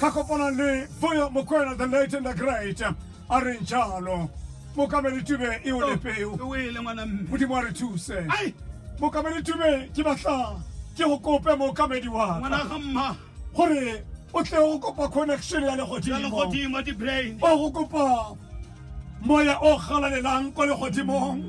Ka kopana le Vuyo Mokwena the late and the great a reng jalo mokamedi tube e o lepeo o ele ngwana mme modimo a re thuse Ai! mokamedi tube ke batla ke go kope mookamedi wa ngwana ka ga mma gore o tle go kopa connection ya ya legodimo legodimo di-brain o go kopa moya o galalelang kwa legodimong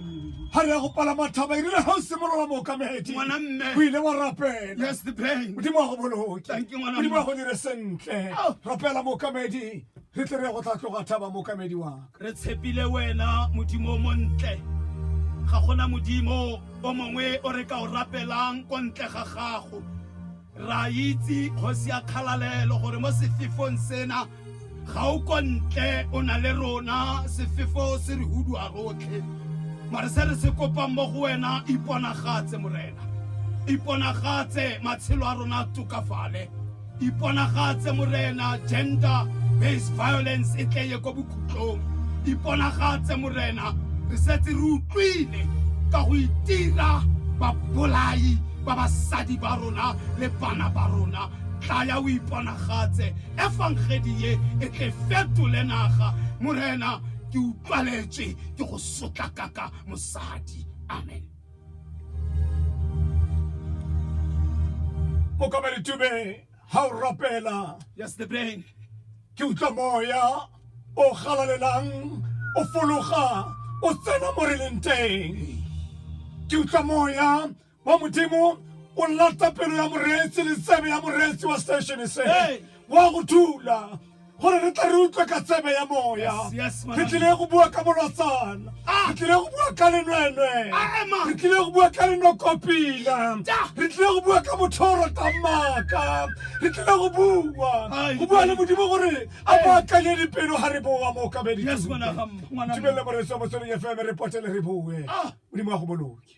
ga re ya go palama thaba e rile ga o simolola mookamedi Ngwana mme. o ile wa rapela Yes, the pain. modimo wa go boloke Thank you, ngwana modimo wa mme. go dire sentle Oh. rapela mookamedi re tle re ya go tla tloga thaba mookamedi waka re tshepile wena modimo o montle ga gona modimo o mongwe o re ka o rapelang ko ntle ga gago Ra itse kgosi ya kgalalelo gore mo sefefong sena ga o ko ntle o na le rona sefefo se re hudua rotlhe mare se re se kopang mo go wena iponagatse morena iponagatse matshelo a rona a tokafale iponagatse morena gender based violence e tle ye ko bokhutlong iponagatse morena re setse re utlwile ka go itira babolai ba basadi ba rona le bana ba rona. Tlaya o iponagatse, efangedi ye e tle fetole naga. Morena, ke utlwaletswe ke go sotlakaka mosadi. Amen. Mokamedi Tube, ha o rapela. Yes, the brain. Ke utlwa moya o galalelang o fologa o tsena mo re leng teng. Ke utlwa moya wa modimo o lata pelo ya moreetsi le tsebe ya moreetsi wa station se wa go thula gore re tla re utlwe ka tsebe ya moya re tlile go bua ka bolotsana ah! re tlile go bua ka lenwenwe re tlile go bua ka lenokopila re tlile go bua ka mothoro tamaka re tlile go bua go bua le modimo gore a baakanye dipelo ga re boa mo kabeditibelele moreetsi wa motsweding fm re potele re bue ah! modimo wa go boloke